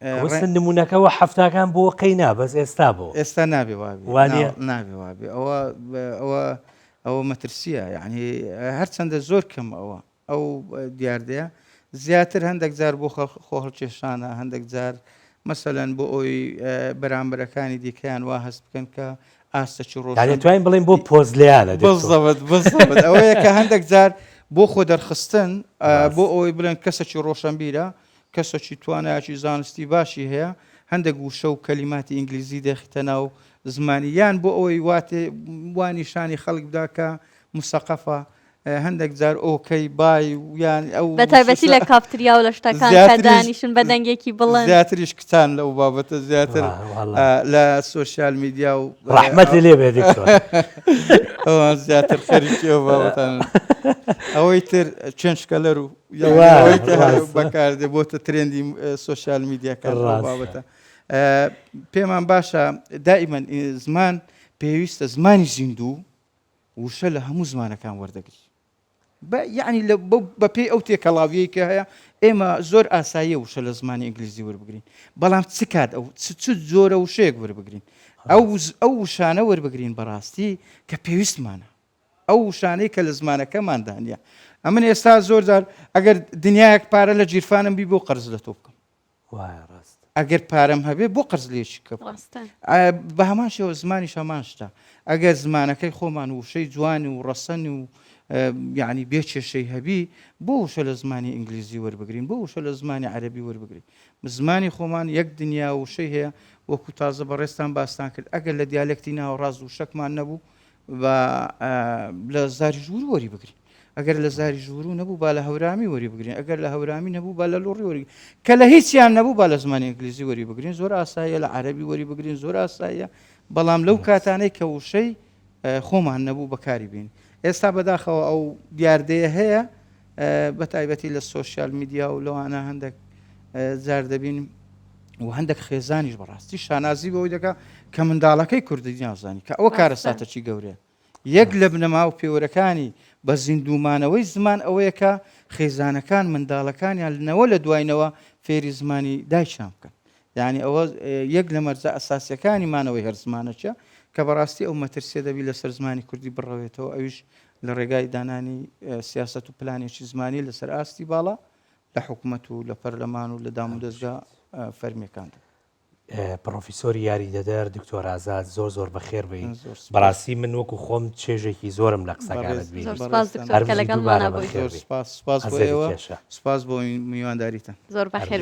ئەوە نمونەکە وە حەفتاکان بۆ قەی نا بەس ئێستا بۆ ئێستا نابێ وابێ نابێ وابێ ئەوە ئەوە ئەوە مەترسیە یعنی هەرچەندە زۆر کەم ئەوە ئەو دیاردەیە زیاتر هەندێک جار بۆ خۆ هەڵکێشانە هەندێک جار مەسەەن بۆ ئەوی بەرامبەرەکانی دیکەیان وا هەست بکەن کە ئاستە چ ڕۆژ توانین بڵین بۆ پۆز لیانە ئەوەیە کە هەندێک جار بۆ خۆ دەرخستن بۆ ئەوەی بڵێن کەسەکی ڕۆشنبیرە کەسەکی توانایەکی زانستی باشی هەیە هەندێک وشە و کەلیماتی ئینگلیزی دەخیتە ناو زمانی یان بۆ ئەوەی واتێ وا نیشانی خەڵک بدا کە مسەقەفە هەندێک جار ئۆکەی بای یان ئەو بە تایبەتی لە کافتریا و لە شتەکان کە زیاتریش- دانیشن بە دەنگێکی بڵند زیاتریش کچان لەو بابەتە زیاتر واه، والله. ئا، لە سۆشیال میدیا و ڕەحمەتی لێ بێ دکتۆر ئەوان زیاتر خەریکی ئەو بابەتانەن ئەوەی تر چێنچکەلەر و بەکاردێ بۆتە ترێندی سوۆسیال میدیاکان بابەتە پێمان باشە دائیمەن زمان پێویستە زمانی زیندوو وشە لە هەموو زمانەکان وەردەگری یعنی بە پێی ئەو تێکەڵاویەی کە هەیە ئێمە زۆر ئاساییە وشە لە زمانی ئینگلیزی وەربگرین بەڵام چ کات ئەو چ زۆرە وشەیەک وەربگرین ئەو ئەو وشانە وەربگرین بەڕاستی کە پێویستمانە ئەو وشانەی کە لە زمانەکەماندا نیە. ئەمن ئێستا زۆر جار ئەگەر دنیایەک پارە لە جیرفانم بی بۆ قەرز لە تۆ بکەم. وایە ڕاست. ئەگەر پارەم هەبێ بۆ قەرز لێ شیکە بکەم. ڕاستە. ئا بە هەمان شێوە زمانیش هەمان شتە. ئەگەر زمانەکەی خۆمان وشەی جوان و ڕەسەن و یانی بێ کێشەی هەبی بۆ وشە لە زمانی ئینگلیزی وەربگرین بۆ وشە لە زمانی عەرەبی وەربگرین. زمانی خۆمان یەک دنیا وشەی هەیە وەکو تازە بەڕێزتان باستان کرد ئەگەر لە دیالێکتی ناوەڕاست وشەکمان نەبوو با لە زاری ژوور وەری بگرین ئەگەر لە زاری ژوورو نەبوو با لە هەورامی وەری بگرین ئەگەر لە هەورامی نەبوو با لە لۆڕی وەری کە لە هیچیان نەبوو با لە زمانی ئەنگلیزی وەری بگرین زۆر ئاساییە لە عەربی وەری بگرین زۆر ئاساییە بەڵام لەو کاتانەی کە وشەی خۆمان نەبوو بەکاری بین ئێستا بەداخەوە ئەو دیاردەیە هەیە بە تایبەتی لە سۆسیال میدیا و لەوانە هەندێک جار دەبین و هەندێک خێزانیش بەڕاستی شانازی بەوەی دەکە کە منداڵەکەی کوردی نازانی کە ئەوە کارەساتەچی گەورەیە یەک لە بنەما و پێوەرەکانی بە زیندومانەوەی زمان ئەوەیە کە خێزانەکان منداڵەکانیان لەوە لە دواینەوە فێری زمانی دایشان بکەن یعنی ئەوە یەک لە مەرزە ئەساسیەکانی مانەوەی هەر زمانەچە کە بەڕاستی ئەو مەترسیە دەبی لەسەر زمانی کوردی بڕەوێتەوە ئەوش لە ڕێگای دانانی سیاسەت و پلانێکی زمانی لەسەر ئاستی باڵا لە حکومەت و لە پەرلەمان و لە دام و دەستگا فەرمیەکاندا. پڕۆفیسۆری یاریدەدەر دکتۆر ئازاد زۆر زۆر بەخێر بی بەڕاستی من وەکو خۆم چێژێکی زۆرم لە قسەکانت بی سپاس بۆ میوانداریتان زۆر بەخێر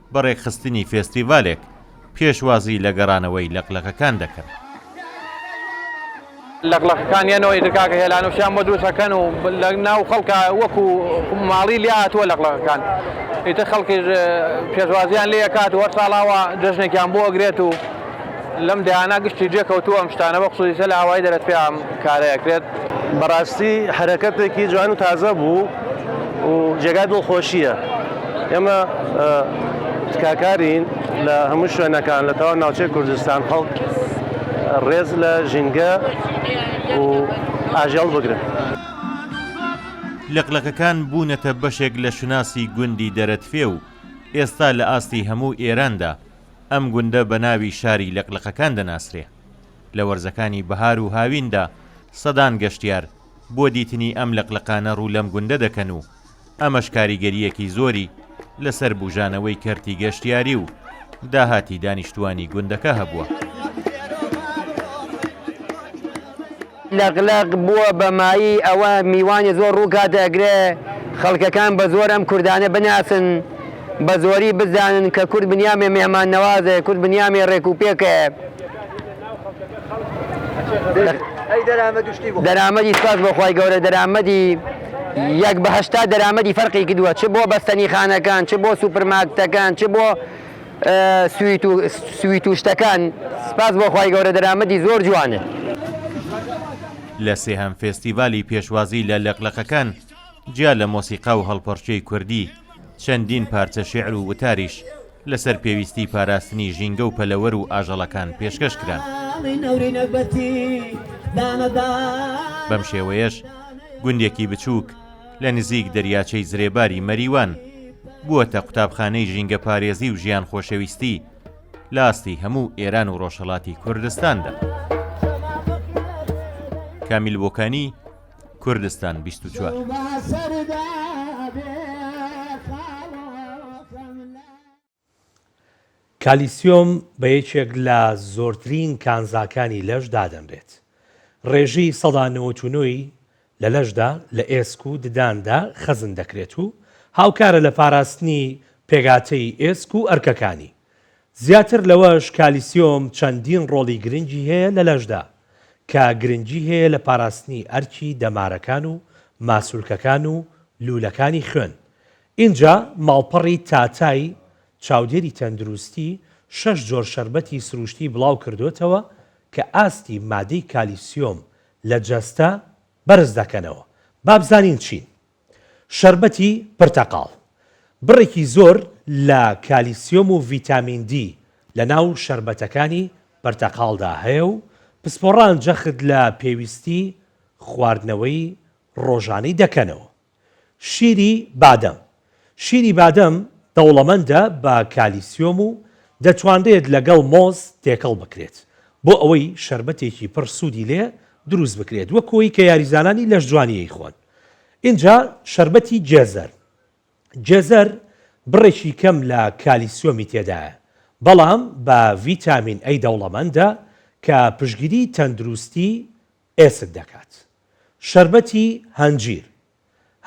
بە ڕێکخستنی فێستیڤالێک پێشوازی لە گەڕانەوەی لەقلەقەکان دەکەن. لەقلەقەکانیانەوەی تر کاکە هێلان و شیان بۆ دروست ئەکەن و لە ناو خەڵکا وەکو ماڵی لێ هاتووە لەقلەقەکان ئیتر خەڵکیش پێشوازیان لێ ئەکات و هەر ساڵ ئاوا جەژنێکیان بۆ ئەگرێت و لەم دەیانە گشتی جێ کەوتوو ئەم شتانە بە خصوصی لە ئاوایی دەرەت پێ ئەم کارە ئەکرێت. بەڕاستی حەرەکەتێکی جوان و تازە بوو و جێگای دڵخۆشییە. ئێمە تکاکارین لە هەموو شوێنەکان لە تەواو ناوچەی کوردستان خەڵک ڕێز لە ژینگە و ئاژەڵ بگرن. لقلقەکان بوونەتە بەشێک لە شوناسی گوندی دەرەتپێ و ئێستا لە ئاستی هەموو ئێراندا ئەم گوندە بە ناوی شاری لەقلەقەکان دەناسرێ. لە وەرزەکانی بەهار و هاویندا سەدان گەشتیار بۆ دیتنی ئەم لەقلەقانە ڕوو لەم گوندە دەکەن و ئەمەش کاریگەرییەکی زۆری لەسەر بووژانەوەی کەرتی گەشتیاری و داهاتی دانیشتووانی گوندەکە هەبووە. لەق لەق بووە بە مایی ئەوە میوانی زۆر ڕوو کاتە ئەکرێ خەڵکەکان بە زۆر ئەم کوردانە بناسن بە زۆری بزانن کە کورد بنیامێ مێهمان نەوازە کورد بنیامێ ڕێک و پێکە. دەرامەدی سوپاس بۆ خوای گەورە دەرامەدی یەک بە هەشتا دەرامەدی فەرقی کردووە چ بۆ بەستەنیخانەکان چ بۆ سوپرماکتەکان چ بۆ سویت و سویت و شتەکان سپاس بۆ خوای گەورە دەرامەتی زۆر جوانە. لە سێهەم فێستیڤالی پێشوازی لە لەقلەقەکان، جیا لە مۆسیقا و هەڵپەڕکێی کوردی، چەندین پارچە شێعر و وتاریش لەسەر پێویستی پاراستنی ژینگە و پەلەوەر و ئاژەڵەکان پێشکەش کران. بەم شێوەیەش گوندێکی بچووک، لە نزیک دەریاچەی زرێباری مەریوان، بووەتە قوتابخانەی ژینگەپارێزی و ژیان خۆشەویستی لە ئاستی هەموو ئێران و ڕۆژهەڵاتی کوردستاندا. کامیل بۆکانی، کوردستان، بیست و چوار. کالیسیۆم بە یەکێک لە زۆرترین کانزاکانی لەش دادەنرێت. ڕێژەی سەدا نەوەت و نۆ ی لە لەشدا لە ئێسک و دداندا خەزن دەکرێت و هاوکارە لە پاراستنی پێکهاتەی ئێسک و ئەرکەکانی. زیاتر لەوەش کالیسیۆم چەندین ڕۆڵی گرنگی هەیە لە لەشدا کە گرنگی هەیە لە پاراستنی ئەرکی دەمارەکان و ماسولکەکان و لوولەکانی خوێن ئینجا ماڵپەڕی تاتای چاودێری تەندروستی شەش جۆر شەربەتی سروشتی بڵاو کردۆتەوە کە ئاستی مادەی کالیسیۆم لە جەستە بەرز دەکەنەوە با بزانین چین شەربەتی پرتەقاڵ بڕێکی زۆر لە کالیسیۆم و ڤیتامین دی لە ناو شەربەتەکانی پرتەقاڵدا هەیە و پسپۆڕان جەخت لە پێویستی خواردنەوەی ڕۆژانەی دەکەنەوە. شیری بادەم، شیری بادەم دەوڵەمەندە بە کالیسیۆم و دەتوانرێت لەگەڵ مۆز تێکەڵ بکرێت بۆ ئەوەی شەربەتێکی پڕ سوودی لێ دروست بکرێت وەکوەی کە یاریزانانی لەشجوانی ئەیخۆن ئینجا شەربەتی جێزەر جێزەر بڕێکی کەم لە کالیسیۆمی تێدایە بەڵام بە ڤیتامین ئەی دەوڵەمەندە کە پشگیری تەندروستی ئێسک دەکات. شەربەتی هەنجیر،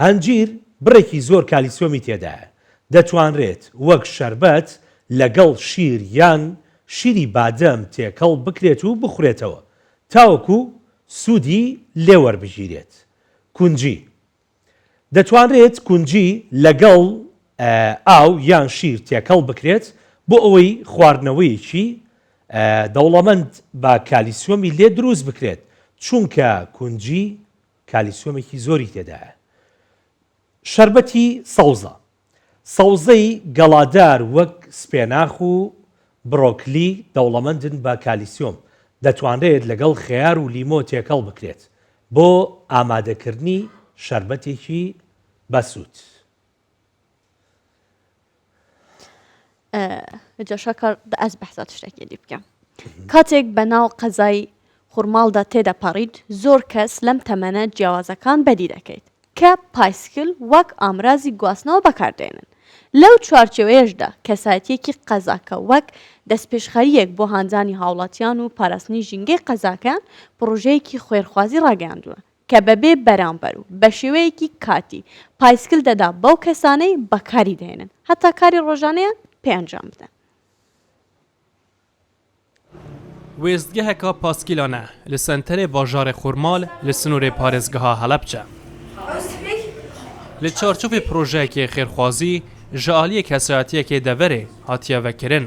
هەنجیر بڕێکی زۆر کالیسیۆمی تێدایە، دەتوانرێت وەک شەربەت لەگەڵ شیر یان شیری بادەم تێکەڵ بکرێت و بخورێتەوە تاوەکو سوودی لێوەربگیرێت. کونجی. دەتوانرێت کونجی لەگەڵ ئاو یان شیر تێکەڵ بکرێت بۆ ئەوەی خواردنەوەیەکی دەوڵەمەند بە کالیسیۆمی لێ دروست بکرێت چونکە کونجی کالیسیۆمێکی زۆری تێدایە. شەربەتی سەوزە، سەوزەی گەڵادار وەک سپێناخ و برۆکلی دەوڵەمەندن بە کالیسیۆم، دەتوانرێت لەگەڵ خەیار و لیمۆ تێکەڵ بکرێت بۆ ئامادەکردنی شەربەتێکی بەسوود. جاشاکار دە ئەز بەحسا تشتێکی دی بکەم کاتێک بە ناو قەزای خورماڵدا تێدەپەڕیت زۆر کەس لەم تەمەنە جیاوازەکان بەدی دەکەیت کە پایسکل وەک ئامرازی گواستنەوە بەکاردێنن لەو چوارچێوەیەشدا کەسایەتیەکی قەزاکە وەک دەستپێشخەریەک بۆ هانزانی هاوڵاتیان و پاراستنی ژینگەی قەزاکەیان پڕۆژەیەکی خوێرخوازی ڕاگەیاندووە کە بەبێ بەرامبەر و بە شێوەیەکی کاتی، پایسکل دەدا بەو کەسانەی بەکاری دەهێنن، هەتا کاری ڕۆژانەیان پێ ئەنجام بدەن. وێستگەهەکە پاسکیلانە لە سەنتەرێ باژارێ خورمال لە سنوورێ پارێزگەها هەڵەبچە. لە چارچوفێ پرۆژەیەکێ خێرخوازی، ژە ئالیێ کەسایەتییەکێ دەڤەرێ هاتیە ڤەکرن.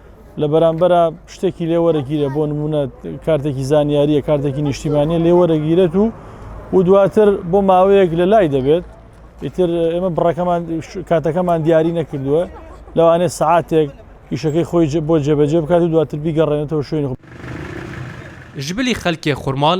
لە بەرامبەرا شتێکی لێ وەرەگیرە بۆ نمونە کارتێکی زانیاریە کارتێکی نیشتیمانە لێ وەرەگیرێت و و دواتر بۆ ماوەیەک لە لای دەبێت ئیتر ئێمە بڕەکەمان کاتەکەمان دیاری نەکردووە لەوانێ سعاتێک ئیشەکەی خۆی بۆ جێبەجێ بکات و دواتر بیگەڕێنێتەوە شوێن. ژبلی خەلکێ خورماڵ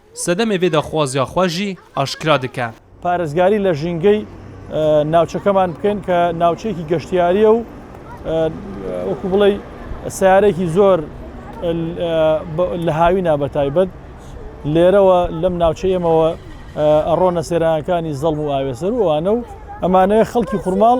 سەدەمێ ڤێ داخوازیا خوا ژی ئاشکرا دکە. پارێزگاری لە ژینگەی ناوچەکەمان بکەین کە ناوچەیەکی گەشتیارییە و وەکو بڵێ سیارێکی زۆر لە هاوینا بەتایبەت لێرەوە لەم ناوچە ئێمەوە ئەڕۆنە سێرانەکانی زەڵم و ئاوێسەر وانە و ئەمانەیە خەڵکی خورماڵ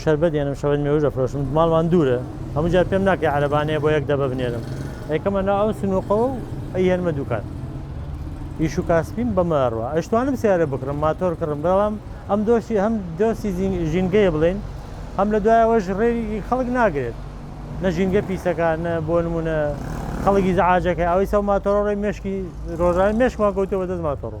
شەربەت دێنم شەربەت مێوژ دەفرۆشم ماڵمان دوورە هەموو جار پێم ناکەی عەرەبانەیە بۆ یەک دەبە بنێرم ئەیکەمە نا ئەو سنووقەوە و ئەیهێنمە دوکان ئیش و کاسپیم بەمەڕوە ئەشتوانم سیارە بکڕم ماتۆر کڕم بەڵام ئەم دۆشی هەم دۆستی ژینگەیە بڵێن هەم لە دوایەوەش ڕێی خەڵک ناگرێت نە ژینگە پیسەکان نە بۆ نمونە خەڵکی زعاجەکە ئەوەی سەو ماتۆڕۆی مشکی ڕۆژان مشکمان گوتەوە دەست ماتۆڕۆ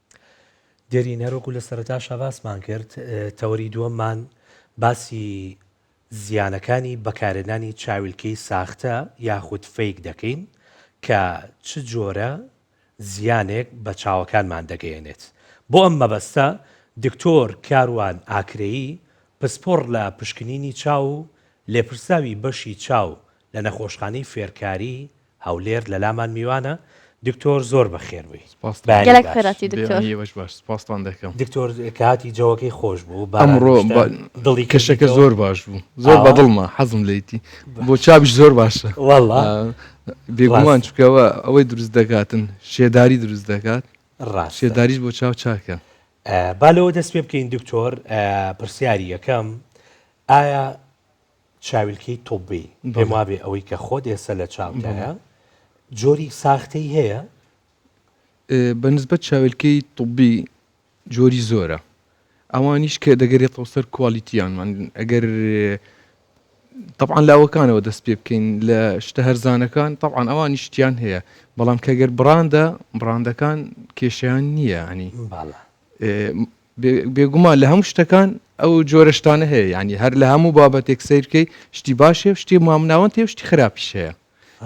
دێرین، هەر وەکو لە سەرەتاشا باسمان کرد، تەوەری دووەممان باسی زیانەکانی بەکارهێنانی چاویلکەی ساختە یاخود فەیک دەکەین کە چ جۆرە زیانێک بە چاوەکانمان دەگەیەنێت. بۆ ئەم مەبەستە دکتۆر کاروان ئاکرەیی پسپۆڕ لە پشکنینی چاو و لێپرسراوی بەشی چاو لە نەخۆشخانەی فێرکاریی هەولێر لەلامان میوانە دکتۆر زۆر بەخێربی. سپاستان بەیانی گەلەک باش. خێراتی دکتۆر. بەیانی ئێوەش باش سپاستان دەکەم. دکتۆر کاتی جەوەکەی خۆش بوو باران ئەمڕۆ نیشتە دڵی کەشەکە کردیتەوە. زۆر باش بوو زۆر ئاوا؟ بەدڵمە حەزم لێیتی بۆ چاویش زۆر باشە وەڵا ئا بێگومان ڕاست چونکە ئەوە ئەوەی دروست دەکاتن شێداری دروست دەکات ڕاستە شێداریش بۆ چاو چاکە. ئا با لەوە دەست پێ بکەین دکتۆر ئا پرسیاری یەکەم ئایا. چاویلکەی طبی پێم وابێ ئەوەی کە خۆت ئێستا لە چاوتایە جۆری ساختەی هەیە بە نسبەت چاویلکەی طبی جۆری زۆرە ئەوانیش کە دەگەرێتەوە سەر کوالیتیانمان ئەگەر طبعاان لاوەکانەوە دەست پێ بکەین لە شتە هەرزانەکان طبعاان ئەوان نیشتیان هەیە بەڵام کەگەر بڕاندە بڕاندەکان کێشیان نییە ئەنی بێگومان لە هەموو شتەکان ئەو جۆرە شتانە هەیە یعنی هەر لە هەموو بابەتێک سیرکەی شتی باشێ و شتی مامناوەند تێ شتی خراپیش هەیە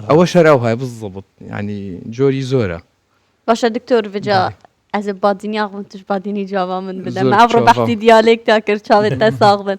ئەوە شەراو هاە بزڵبت ینی جۆری زۆرە باشە دکتۆر بجا ئەز بادینیاغم توش بادینی جوابا من بدەم ئەڕۆ بەختی دیالێک تا کرد چاوێت تا ساغ بن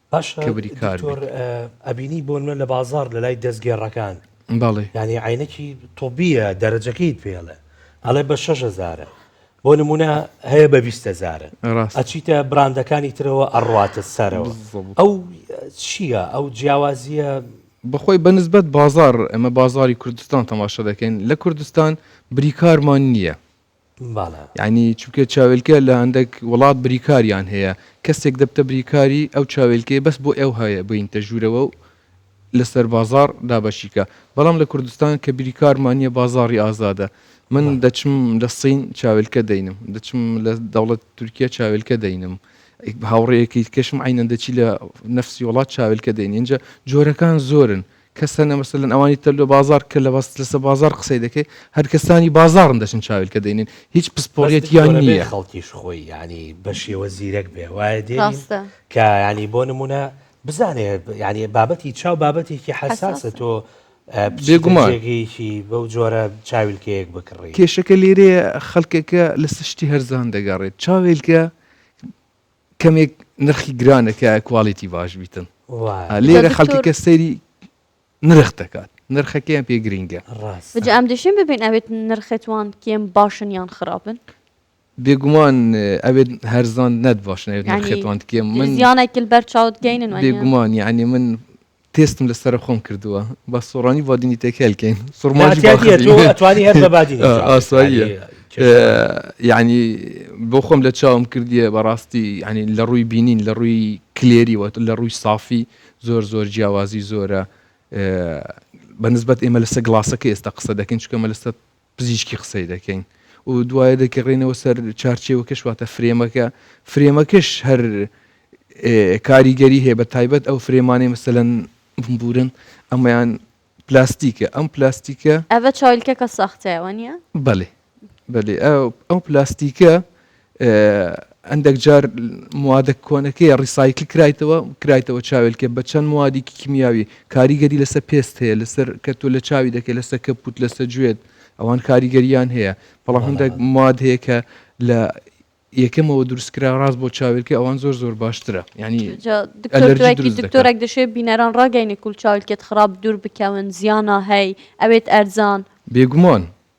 کبری کار باشە دکتۆر ئەبینی بۆ نمونە لە بازاڕ لە لای دەستگێڕەکان بەڵێ یعنی عینەکی طبیە دەرەجەکەی پێڵێ ئەڵێ بە شەش هەزارە بۆ نمونە هەیە بە بیست هەزارە ڕاست ئەچیتە براندەکانی ترەوە ئەڕاتە سەرەوە بالضبط. ئەو چییە ئەو جیاوازیە بەخۆی بە نسبەت بازاڕ ئەمە بازاری کوردستان تەماشا دەکەین لە کوردستان بریکارمان نییە باڵا. یەعنی چونکە چاوێلکە لە هەندەک وڵات بریکاریان هەیە کەسێک دەبتە بریکاری ئەو چاوێلکەیە بەس بۆ ئەو هەیە بێینتە ژوورەوە و لەسەر بازاڕ دابەشی کا بەڵام لە کوردستان کە بریکارمان نیە بازاڕی ئازادە من دەچم لە صین چاوێلکە دەینم دەچم لە دەوڵەتی تورکیە چاوێلکە دەینم هاوڕێیەکی دیکەشم عەینەن دەچی لە نەفسی وڵات چاوێلکە دەینی ئینجا جۆرەکان زۆرن کەس هەنە مەسەلەن ئەوانی تر لۆ بازاڕ کە لەباس لەسە بازاڕ قسەی دەکەی هەر کەسانی بازاڕن دەچن چاویلکە دەینن هیچ پسپۆریەتیان نیە. خەڵکیش خۆی یانی بە شێوە زیرەک بێ وایە دێنین کە یانی بۆ نمونە بزانێ یانی بابەتی چاو بابەتێکی حەساسە تۆ بێگومان جێگەیەکی بەو جۆرە چاویلکەیەک بکڕی. کێشەکە لێرەیە خەڵکەکە لەسە شتی هەرزان دەگەڕێت چاوێلکە کەمێک نرخی گرانە کە کوالیتی باش بیتن لێرە خەڵکەکە سەیری نرخ دەکات نرخەکەیان پێ گرنگە ڕاست ئەم دەشێن ببین ئەوێت نرخێتوان کێم باشن یان خراپن بێگومان ئەوێت هەرزان نەت باشنێت نرخێتوان کێم من یانێکل بەر چاوت گەینن بێگومان یعنی من تێستم لە سەرە خۆم کردووە با سۆڕانی بادینی تێکێل کەین سوڕماژی ئاسایی یعنی بۆ خۆم لە چاوم کردیە بەڕاستی ینی لە ڕووی بینین لە ڕووی کلێری وە لە ڕووی سافی زۆر زۆر جیاوازی زۆرە بە نسبەت ئێمە لەسە گڵاسەکە ئێستا قسە دەکەین چکەمە لەسەر پزیشکی قسەی دەکەین و دوایە دەگەڕێنەوە سەر چارچێوەکەش واتە فرێمەکە فرێمەکەش هەر کاریگەری هەیە بە تایبەت ئەو فرێمانەی مەسەلەن بمبورن ئەمەیان پلاستیکە ئەم پلاستیکە ئەە چایلکەکە سەختەوە نیە بەێ بەێ ئەو پلاستیکە هەندەک جار موادە کۆنەکەی ڕیسایکل کرایتەوە کرایتەوە چاوێلکە بە چەند موادێکی کیمیاوی کاریگەری لەسەر پێست هەیە لەسەر کە تۆ لە چاوی دەکەی لەسەر کە پوت لەسە گوێت ئەوان کاریگەریان هەیە بەڵام هەندێک مواد هەیە کە لە یەکەمەوە دروستکرا ڕاست بۆ چاوێلکە ئەوان زۆر زۆر باشترە ینی دکتۆرێک دەشێت بینەران ڕاگەینی کول چاولکێت خراپ دوور بکەون زیانە هەی ئەوێت ئەرزان بێگومان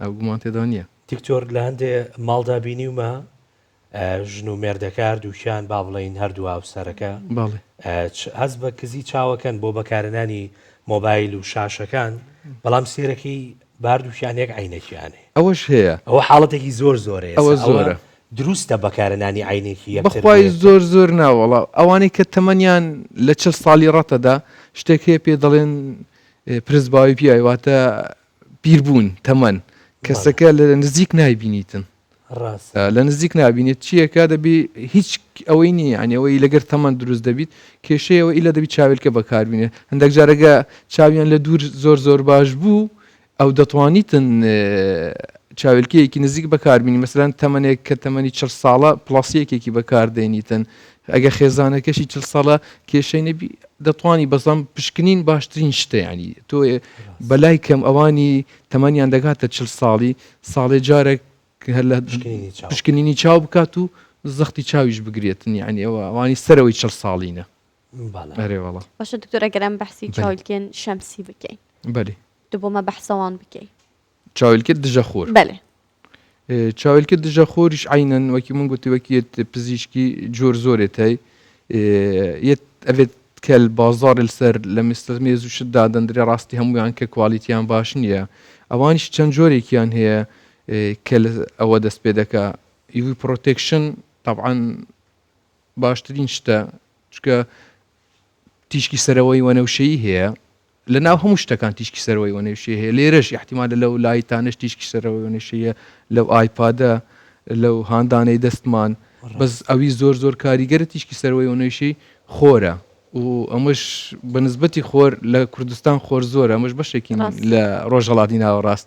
ئەوە گومان تێدا نیە. دکتۆر لە هەندێ ماڵدا بینیومە ژن و مێردەکە هەردووکیان با بڵێین هەردوو هاوسەرەکە هەست بە کزی چاوەکەن بۆ بەکارنانی مۆبایل و شاشەکان بەڵام سێرەکەی باردووکیان یەک عینەکیانێ ئەوەش هەیە ئەوە حاڵەتێکی زۆر زۆرەیە ئەوە زۆرە دروستە بەکارنانی عینێکی بەخوای زۆر زۆر ناوەڵا ئەوانەی کە تەمەنیان لە چل ساڵی ڕەتەدا شتێک هەیە پێ دەڵێن پرسباوی پیاواتە پیربوون، تەمەن، کەسەکە لە نزیک نایبینیتن. ڕاست. لە نزیک نابینێت چییەکە دەبی هیچ ئەوەی نییە عنیەوەی لەگەر تەمەند دروست دەبیت کێشەیەوە ئیلا دەبی چاویلکە بەکاربینێ هەندێک جارەگە چاویان لە دوور زۆر زۆر باش بوو ئەو دەتوانیتن چاویلکەیەکی نزیک بەکاربینی مەسەرەن تەمەێک کە تەمەنی چ ساڵە پلاسیەکێکی بەکاردێنیتن ئەگەر خێزانەکەشی چل ساڵە کێشەی نەبی دەتوانی بەزەم پشکنین باشترین شتە ینی تۆ بەلای کەم ئەوانی تەمەنیان دەگاتە چل ساڵی ساڵێ جارێک هەر لە پشکنینی چاو بکات و زەختی چاویش بگرێتن یعنی ئەوە ئەوانی سەرەوەی چل ساڵینە ئەرێوەڵە باشە دکتۆرە گەرم بەحسی چاولکێن شەمسی بکەین بەێ دبۆمە بەحسەوان بکەین چاویلکە دژە خۆر بەێ چاویلکە دژە خۆریش عینەن وەکی من گوتی وەکیێت پزیشکی جۆر زۆرێت هەی ئەبێت کەل بازار سەر لە مستەر مێز و شت دادەندرێ ڕاستی هەمویان کە کوالیتیان باش نییە ئەوانیش چەند جۆرێکیان هەیە کە ئەوە دەست پێ دەکە یوی پرۆتێکشن طبعاان باشترین شتە چکە تیشکی سەرەوەی وەنەوشەی هەیە لە ناو هەموو شتەکان تیشکی سەرەوەی وەنەوشەی هەیە لێرەش ئیحتیمالە لەو لایتانەش تیشکی سەرەوەی وەنەوشەی هەیە لەو ئایپادە لەو هاندانەی دەستمان بەس ڕاستە ئەوی زۆر زۆر کاریگەرە تیشکی سەرەوەی وەنەوشەی خۆرە و ئەمەش بە نسبەتی خۆر لە کوردستان خۆر زۆرە ئەمەش بەشێکین ڕاستە لە ڕۆژهەڵاتی ناوەڕاست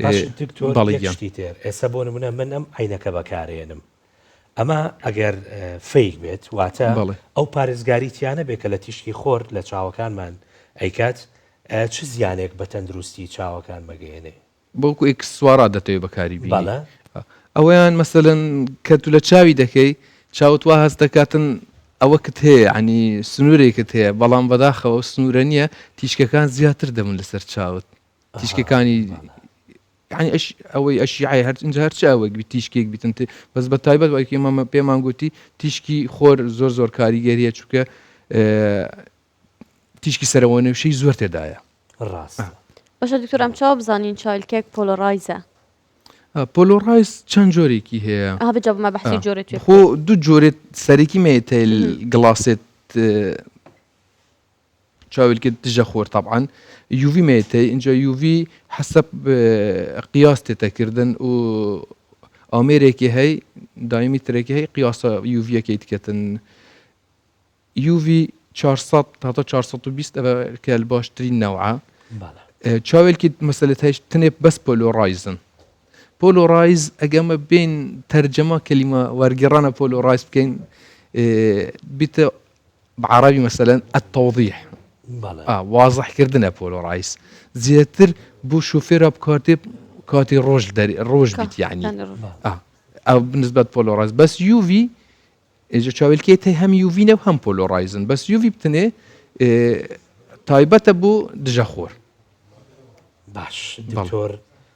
باش دکتۆر یەک شتی تر ئێستا بۆ نمونە من ئەم عینەکە بەکارێنم ئەمە ئەگەر فیک بێت واتە ئەو پارێزگاری تیانە بێ کە لە تیشکی خۆر لە چاوەکانمان ئەیکات چ زیانێک بە تەندروستی چاوەکان مەگەێنێ بەڵکو ئکس سوارا دەتەوێت بەکاری بەڵە ئەویان مەسەن کە تو لە چاوی دەکەی چاوت وا هەست دەکاتن ئەوە کت هەیە عنی سنوورێکت هەیە بەڵام بەداخەوە سنوورە نییە تیشکەکان زیاتر دەبن لەسەر چاوت تیشکەکانی یعنی ئەش ئەوەی ئەشیعی هەر ئینجا هەرچ ئەوەک بی تیشکێک بیتن تێ بەس بە تایبەت وەکی مەمە پێمان گوتی تیشکی خۆر زۆر زۆر کاریگەریە چووکە تیشکی سەرەوە نوێشەی زۆر تێدایە ڕاست بەشە دکتۆرم چاو بزانین چایل کێک پۆلۆڕایزە پۆلۆڕایز چەند جۆرێکی هەیە هەبجابمە بەحسی جۆرێت خۆ دوو جۆرێت سەرەکی مێتەیل گڵاسێت چاویلکە دژە خۆر تەبعەن یوڤی مێتەی ئینجا یوڤی حەسەب قیاس تێتەکردن و ئامێرێکی هەی دایمی ترێکی هەی قیاسە یوڤەکەی تکەتن یوڤی 400 تا 420 ئەە کەل باشترین نەوە چاوێکی مەسلت هەیش تنێ بەس پۆلۆڕایزن پۆلۆڕایز ئەگەمە بین تەرجەما کەلیمە وەرگێڕانە پۆلۆڕایز بکەین بیتە بە عەڕەبی مەسەلەن التوضیح ئا وازح کردنە پۆلۆ ڕایس زیاتر بۆ شوفێرا بکاتێ کاتی ڕۆژ دەری ڕۆژ بیت یعنی یانی ڕۆژ. ئا ئەو بنسبەت پۆلۆ ڕایس بەس یوڤی ئێجا چاویلکەی تەی هەم یوڤینە و هەم پۆلۆ ڕایزن بەس یوڤی بتنێ ئێ، تایبەتە بۆ دژە خۆر باش بەڵێ. دکتۆر